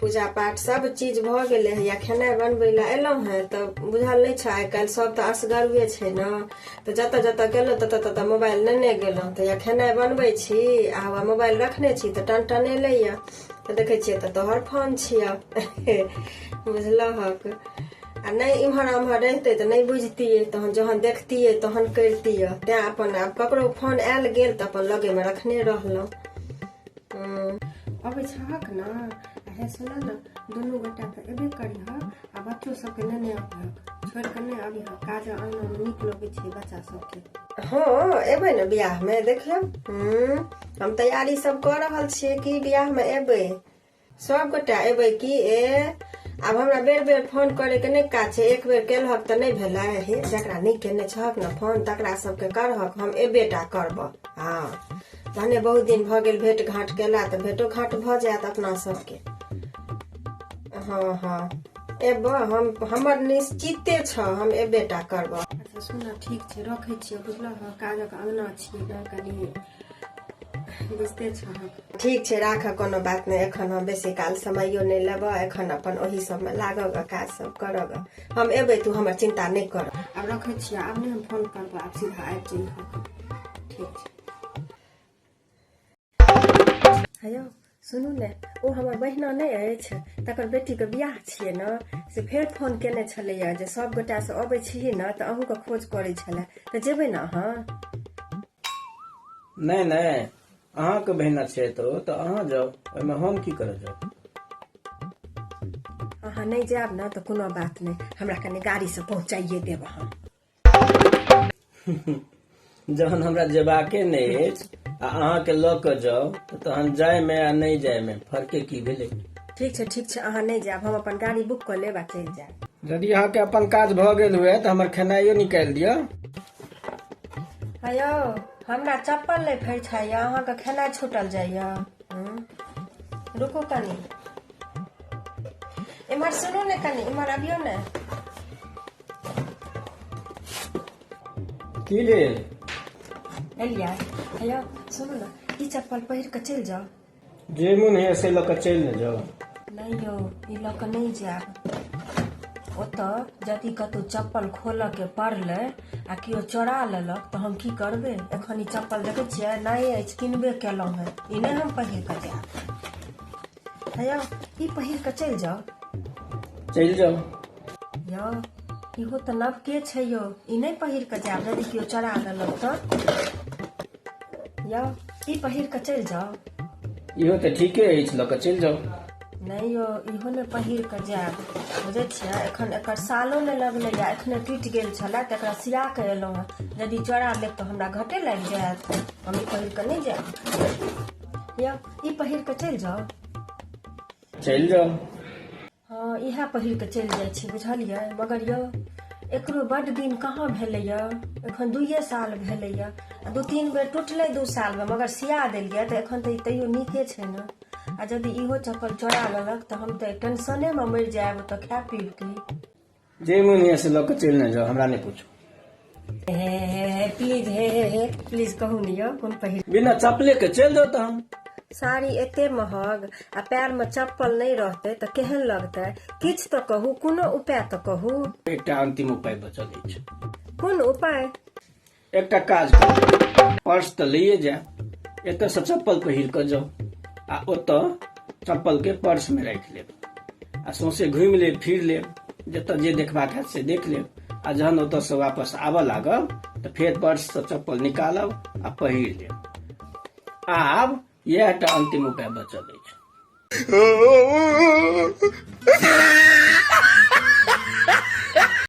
पूजा पाठ सब चीज भऽ गेलै हँ या खेनाइ बनबै लए एलहुँ हँ तऽ बुझल नहि छै आइ काल्हि सब तऽ असगरुए छै ने तऽ जतऽ जतऽ गेलहुँ ततऽ ततऽ मोबाइल नेने गेलहुँ तऽ या खेनाइ बनबै छी आ हौआ मोबाइल रखने छी तऽ टन टन एलैए तऽ देखै छियै तऽ तोहर फोन छियौ बुझलहक आ नहि इम्हर उम्हर रहितै तऽ नहि बुझतियै तहन जहन देखतियै तहन करितियै तैँ अपन आब ककरो फोन आयल गेल तऽ अपन लगेमे रखने रहलहुँ अबै छहक ने अरे सुन ने दुनू गोटा तऽ एबे करी हँ आ बच्चो सबके नेने अबहक छोड़ि कऽ नहि अबी हँ काज आनऽमे नीक लगै छै बच्चा सबके हँ एबै ने बियाहमे देखियौ हूँ हम तैयारी सब कऽ रहल छियै कि बियाहमे एबै सब गोटा एबै कि ए आब हमरा बेर बेर फोन करे के नहि काज छै एक बेर केलहक तऽ नहि भेलै हे जकरा नहि केने छहक ने फोन तकरा सबके करहक हम एबे टा करबह हँ भने बहुत दिन भऽ गेल भेट घाट केला तऽ भेटो घाट भऽ जायत अपना सबके हँ हँ एबह हम हमर निश्चिते छ हम एबे टा करबह अच्छा सुन ठीक छै रखै छियै बुझलह काजक अङ्गना छियै कनि बुझते छो ठीक छै राख कोनो बात नहि एखन हम बेसी काल समयो नहि लेबह एखन अपन ओहि सबमे लागब काज सब करब हम एबै तू हमर चिन्ता नहि कर आब रखै छियै आब नहि हम फोन करब आब सीधा आबि जइह ठीक छै हेलो सुनू ने ओ हमर बहिना नहि अछि तकर बेटीके बियाह छियै ने से फेर फोन केने छलैए जे सभगोटासँ अबै छियै ने तऽ अहूँके खोज करै छलए तऽ जेबै ने अहाँ नहि नहि अहाँके बहिना छै तऽ ओ तऽ अहाँ जाउ ओहिमे हम की करऽ जाउ अहाँ नहि जायब ने तऽ कोनो बात नहि हमरा कनि गाड़ीसँ पहुँचाइए देब अहाँ जहन हमरा जेबाके नहि अछि आ अहाँके लऽ कऽ जाउ तऽ तहन जायमे आ नहि जायमे फर्के की भेलै ठीक छै ठीक छै अहाँ नहि जायब हम अपन गाड़ी बुक कऽ लेब आ चलि जायब यदि अहाँके अपन काज भऽ गेल हुए तऽ हमर खेनाइयो निकालि दिअ हेयौ हमरा चप्पल नहि फैठाइए अहाँके खेनाइ छूटल जाइए हूँ? रुकू कनी इम्हर सुनू ने कनी इम्हर अबियौ ने की भेल एलिया हैया सुनू ने ई चप्पल पहिर कऽ चलि जाउ जे मोन होइए से लऽ कऽ चलि ने जाउ नहि यौ ई लऽ कऽ नहि जायब ओतऽ यदि कतहु चप्पल खोलऽ के पड़लै आ केओ चोरा लेलक तऽ हम की करबै एखन ई चप्पल देखै छियै नहि अछि किनबे केलहुँ हेँ ई नहि हम पहिर कऽ जायब भैया ई पहिर कऽ चलि जाउ चलि जाउ यौ इहो तऽ नव के छै यौ ई नहि पहिर कऽ जायब यदि केओ चरा देलक तऽ यौ ई पहिर कऽ चलि जाउ इहो तऽ ठीके अछि लऽ कऽ चलि जाउ नहि यौ इहो ने पहिर कऽ जायब बुझै छियै एखन एकर सालो नहि लगलैए एखने टूटि गेल छलए तऽ एकरा सिया कऽ एलहुँ हेँ यदि चोरा लेब तऽ हमरा घटे लागि जायत हम ई पहिर कऽ नहि जायब यौ ई पहिर कऽ चलि जाउ चलि जाउ हँ इएह पहिर कऽ चलि जाइ छी बुझलियै मगर यौ एकरो बड्ड दिन कहाँ भेलैए एखन दुइए साल भेलैए आ दू तीन बेर टुटलै दू सालमे मगर सिया देलियै तऽ एखन तऽ ई तैयो नीके छै ने आ यदि इहो चप्पल चोरा लेलक तऽ हम तऽ टेंशनेमे मरि जायब तऽ खाय पीब की जे मन होइए से लऽ कऽ चलि ने जाउ हमरा नहि पूछू प्लीज हे हे हे प्लीज कहू ने यौ कोन पहिर बिना चपले के चलि जाउ तहन साड़ी एते महग आ पैर में चप्पल नहीं रहते तो केहन लगते किछ तो कहू कोनो उपाय तो कहू एकटा अंतिम उपाय बचल अछि कोन उपाय एकटा काज करू पर्स तऽ लैए जायब एतयसँ चप्पल पहिर कऽ जाउ आ ओतय चप्पलके पर्समे राखि लेब आ सौंसे घुमि लेब फिर लेब जतय जे देखबाक हैत से देख लेब आ जहन ओतयसँ वापस आबऽ लागब तऽ फेर पर्ससँ चप्पल निकालब आ पहिर लेब आब इएह टा अन्तिम उपाय बचल अछि